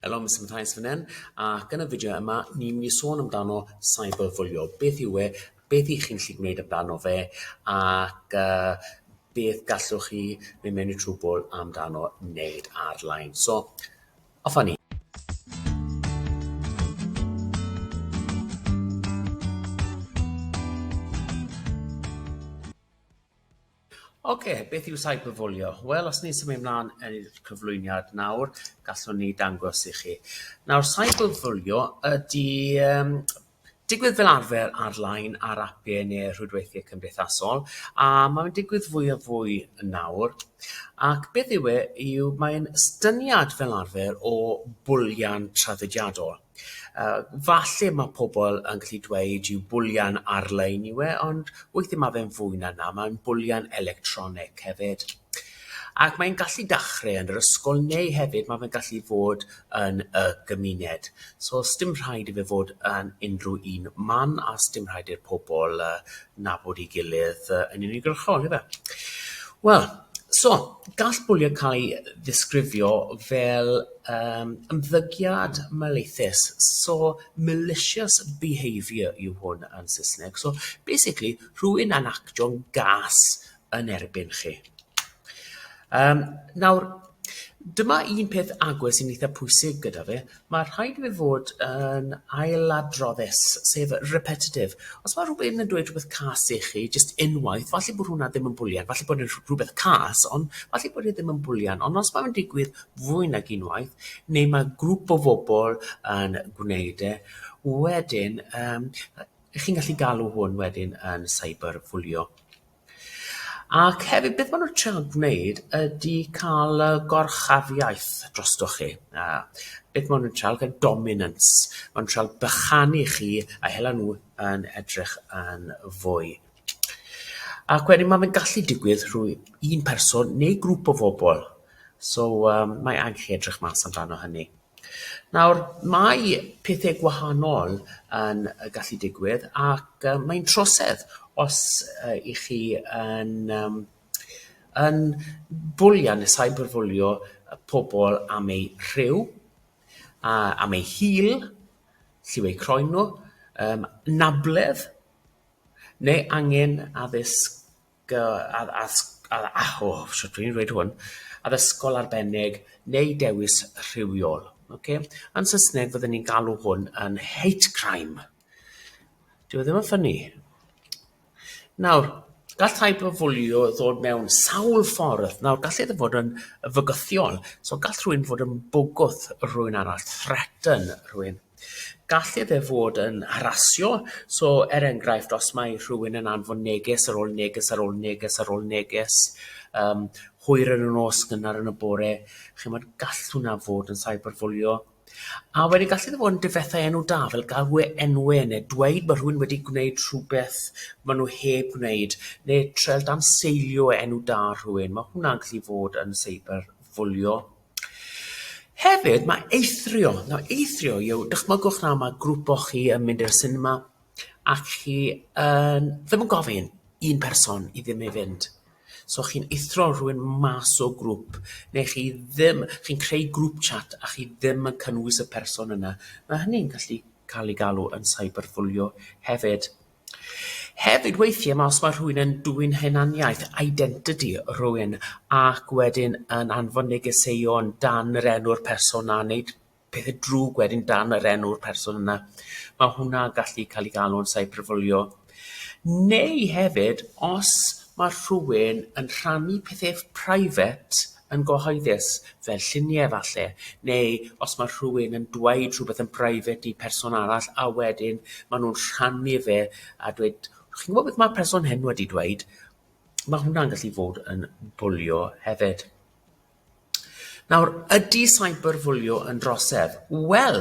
Helo, Mister Mathias fan hyn, ac yn y fideo yma ni'n mynd i sôn amdano cyberbwlio. Beth yw e, beth i chi'n lli gwneud amdano fe, ac uh, beth gallwch chi neu mewn i trwbl amdano wneud ar-lein. So, off ni. Ocê, beth yw cyberbwlio? Wel, os ni'n symud mlaen yn i'r cyflwyniad nawr, gallwn ni dangos i chi. Nawr, cyberbwlio ydy um, digwydd fel arfer ar-lein ar apiau neu rhwydweithiau cymdeithasol, a mae'n digwydd fwy a fwy yn nawr. Ac beth yw e, yw mae'n styniad fel arfer o bwlian traddodiadol. Yy, falle ma' pobl yn gallu dweud yw bwlian ar-lein yw e, ond weithiau ma' fe'n fwy na 'na, mae'n bwlian electronig hefyd. Ac mae'n gallu dachrau yn yr ysgol neu hefyd ma' fe'n gallu fod yn y gymuned. So sdim rhaid i fe fod yn unrhyw un man a sdim rhaid i'r pobl yy nabod ei gilydd yy yn uniongyrchol ife? Wel, so, gall bwlio cael ei ddisgrifio fel yym ymddygiad maleiddus, so malicious behaviour yw hwn yn Saesneg. So basically rhywun yn actio'n gas yn erbyn chi. Um, nawr, dyma un peth agwedd sy'n eitha pwysig gyda fe. Mae rhaid i fe fod yn ailadroddus, sef repetitive. Os mae rhywbeth yn dweud rhywbeth cas i chi, jyst unwaith, falle bod hwnna ddim yn bwlian, falle bod yn rhywbeth cas, ond falle bod e ddim yn bwlian. Ond os mae'n digwydd fwy nag unwaith, neu mae grŵp o fobl yn gwneud e, wedyn, um, chi'n gallu galw hwn wedyn yn cyberbwlio. Ac hefyd beth maen nhw'n trio gwneud ydy cael y gorchafiaeth drostoch chi. Yy beth maen nhw'n trio gael dominance. Maen nhw'n trio bychanu chi a hela nhw yn edrych yn fwy. Ac wedyn mae fe'n gallu digwydd rhwng un person neu grŵp o bobl. So yym mae angen i chi edrych mas amdano hynny. Nawr, mae pethe gwahanol yn yy gallu digwydd ac yy mae'n trosedd os yy 'y chi yn yym yn bwlio ne' cyberbwlio y pobol am eu rhyw, a am eu hil, lliw eu croen nhw, yym anabledd, neu angen addysg addysgol arbennig neu dewis rhywiol. Ok. Yn Saesneg fydden ni'n galw hwn yn hate crime. Dyw e ddim yn ffynnu. Nawr, gall cyberbwlio ddod mewn sawl ffordd. Nawr, gall e fod yn fygythiol. So, gall rhywun fod yn bwgwth rhywun arall, threaten rhywun. Gallai fe fod yn harasio. So, er enghraifft, os mae rhywun yn anfon neges ar ôl neges ar ôl neges ar ôl neges, um, hwyr yn y nos, gynnar yn y bore, chymod, gall hwnna fod yn cyberbwlio. A wedyn gallu ddod fod yn difethau enw da, fel galw e enwe, neu dweud bod rhywun wedi gwneud rhywbeth maen nhw heb gwneud, neu trel dan seilio enw da rhywun. Mae hwnna'n gallu fod yn cyberbwlio. Hefyd, mae eithrio, nawr eithrio yw, dychmygwch nawr mae grŵp o chi yn mynd i'r cinema ac chi yn ddim yn gofyn un person i ddim i fynd. So chi'n eithrio rhywun mas o grŵp neu chi ddim... chi'n creu grŵp chat a chi ddim yn cynnwys y person yna. Mae hynny'n gallu cael ei galw yn cyberbwlio hefyd. Hefyd weithiau mae os mae rhywun yn dwyn hunaniaeth, identity, rhywun ac wedyn yn anfon negeseuon dan yr enw'r person 'na, wneud pethau drwg wedyn dan yr enw'r person yna. Mae hwnna gallu cael ei galw'n cyberbwlio. Neu hefyd os mae rhywun yn rhannu pethau private yn gyhoeddus, fel lluniau falle, neu os mae rhywun yn dweud rhywbeth yn brifet i person arall a wedyn maen nhw'n rhannu fe a dweud chi'n gwybod beth mae'r person hyn wedi dweud? Mae hwnna'n gallu fod yn bwlio hefyd. Nawr, ydy cyberbwlio yn drosedd? Wel,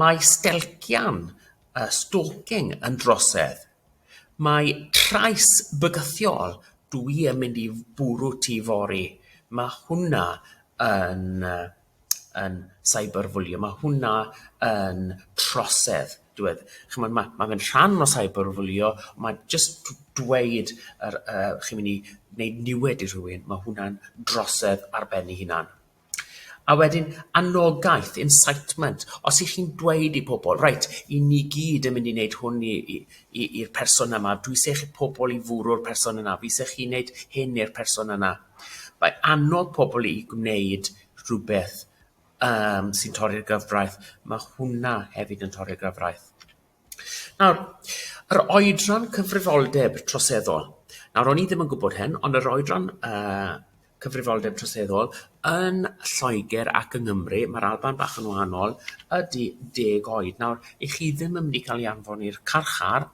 Mae stelcian, yy, stalking, yn drosedd. Mae trais bygythiol, dwi yn mynd i bwrw ti fory, ma' hwnna yn yy yn cyberbullying, ma' hwnna yn trosedd, dwi wed- ch'mod ma' ma' fe'n rhan o cyberbullying, ond ma' jyst d- dweud yr yy chi'n myn' i neud niwed i rhywun, ma' hwnna'n drosedd ar ben 'i hunan. A wedyn anogaeth, incitement. Os y'ch chi'n dweud i pobl, 'reit, 'y ni gyd yn mynd i wneud hwn i i i i'r person yma, dwi isie chi pobl i fwrw'r person yna, fi isie chi wneud hyn i'r person yna', mae annog pobl i gwneud rhywbeth yym sy'n torri'r gyfraith, mae hwnna hefyd yn torri'r gyfraith. Nawr, yr oedran cyfrifoldeb troseddol. Nawr, o'n i ddim yn gwybod hyn, ond yr oedran uh, cyfrifoldeb troseddol yn Lloegr ac yng Nghymru, mae'r Alban bach yn wahanol, ydy deg oed. Nawr, i chi ddim yn mynd i cael ei anfon i'r carchar,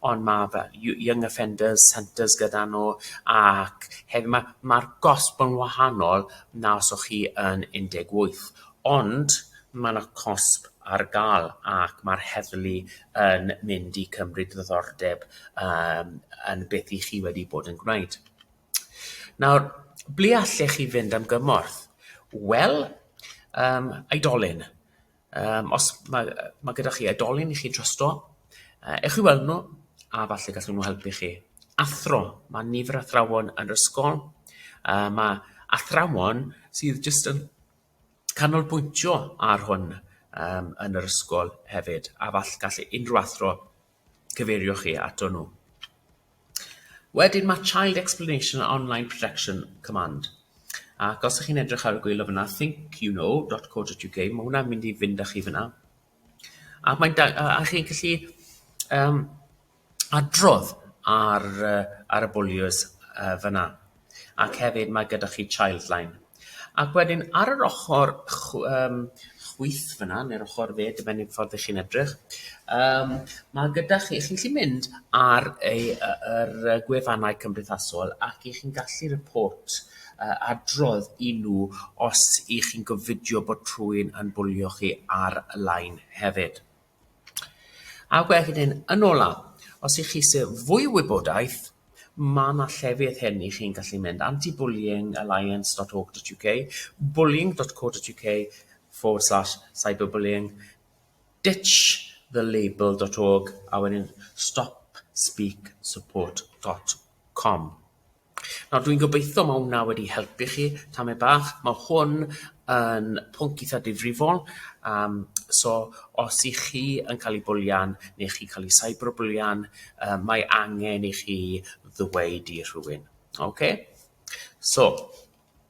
ond mae fel Young Offenders Centres gyda nhw, ac hefyd mae'r mae gosb yn wahanol na os o'ch chi yn 18. Ond mae 'na cosb ar gael ac mae'r heddlu yn mynd i cymryd diddordeb yym yn beth i chi wedi bod yn gwneud. Nawr, ble allech chi fynd am gymorth? Wel, um, aedolyn. Um, os mae, mae gyda chi aedolyn i chi trasto, uh, ewch i weld nhw a falle gallwn nhw helpu chi. Athro, mae nifer athrawon yn yr ysgol, uh, mae athrawon sydd jyst yn canolbwyntio ar hwn yym yn yr ysgol hefyd, a fall gall unrhyw athro cyfeirio chi ato nhw. Wedyn mae Child Explanation and Online Projection Command. Ac os ych chi'n edrych ar y gwylio fyna, thinkyouknow.co.uk, mae hwnna'n mynd i fynd â chi fyna. A mae'n da- a a chi'n gallu yym adrodd ar yy ar y bwlios yy fan'na. Ac hefyd mae gyda chi Childline. Ac wedyn ar yr ochor chw- yym chwith fan'na ne'r ochor dde dibynnu ffordd 'ych chi'n edrych yym ma' gyda chi chi'n gallu mynd ar ei yy yr gwefannau cymdeithasol ac 'ych chi'n gallu report adrodd i nhw os y'ch chi'n gofidio bod rhywun yn bwlio chi ar y line hefyd. A wedyn, yn ola, os y'ch chi eisiau fwy o wybodaeth, mae yna llefydd hyn i chi'n gallu mynd, antibullyingalliance.org.uk, bullying.co.uk forward slash cyberbullying, ditchthelabel.org, a wedyn stopspeaksupport.com. Nawr dwi'n gobeithio mae hwnna wedi helpu chi tamed bach. Mae hwn yn pwnc eitha difrifol yym so os y'ch chi yn cael ei bwlian neu chi'n cael ei cyberbwlian yym mae angen i chi ddweud i rhywun. Ocê? So